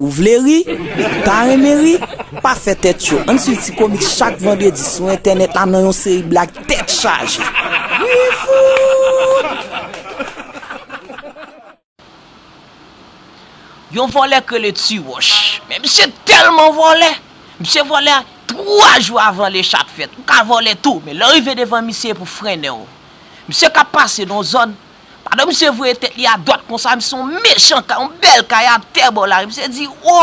Ou vle ri? Pa renmen ri? Pa fè tèt cho, ann swiv Ti Komik chak vandredi sou entènèt la nan yon seri blag tèt chaje! Guyfoot! Yon vòlè k rele Tiwòch, men misye tèlman vòlè, misye vòlè 3 jou avan lechap fèt, ou ka vòlè tou, men lè w rive devan misye e pou frennen w. Misye k ap pase nan yon zòn. Pandan misye voye tèt li adwat konsa, misye yon mechan kay, yon bèl kay atè bò lari. Misye di, o,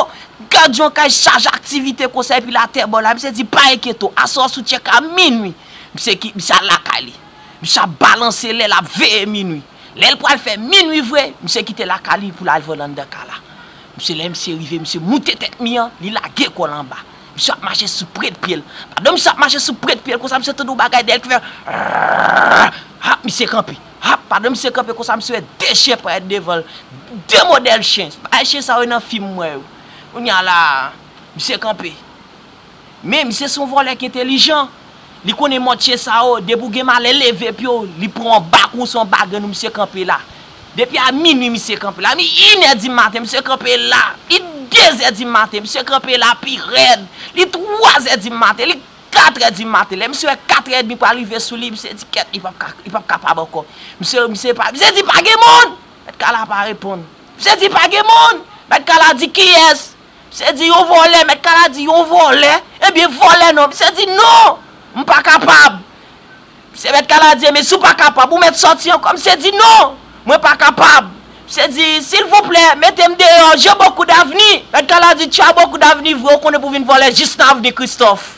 gad yon kay chaje aktivite konsa epi l atè bò lari. Misye di, pa enkyete w, aswè a sou tchèk a minui. Misye ki, misye al lakay li. Misye ap balanse lè l ap veye minui. Lè l pral fè minui vre, misye kite lakay li pou l al veranda kay la. Misye, lè misye rive, misye moute tèt mi an, li lage kò l anba. Misye ap mache sou prent pyel. Pado misye ap mache sou prent pyel konsa misye tande yon bagay dèyèl ki fè rrrrrrrrrr. Hap misye kanpe. Hap pado misye kanpe konsa misye wè de chyen parèt devanl. De modèl chyen. Se bagay chyen sa yo nan fim mwen yo. Kounya la a misye kanpe. Men misye son vòlè ki entelijan. Li konnen mòd chyen sa yo. Depi ou gen malè leve pyew li pran yon bak ou se yon bagèn ou misye kanpe la. Depi a minwi misye kanpe la, mi inè di maten misye kanpe la, li dezè di maten misye kanpe la pi rèd, li twazè di maten, li katrè di maten. Lè misye wè katrè edmi pral rive sou li, misye di kèt li pap ka, li pap kapab ankò. Misye, misye pa, misye di pa gen moun! Mèt kala pa reponn. Misye di pa gen moun! Mèt kala di kiyès? Misye di yon vòlè, mèt kala di yon vòlè? Ebyen vòlè non! Misye di non! M pa kapab! Misye mèt kala di, Enben, si w pa kapab, ou mèt sòti ankò. Misye di, Non! Mwen pa kapab. Misye di, Silvouplè, mete m deyò. J'ai beaucoup d'avenir. Mèt kala di, Tu as beaucoup d'avenir vre, ou konnen pou w vin vòlè jis nan avni Kristòf.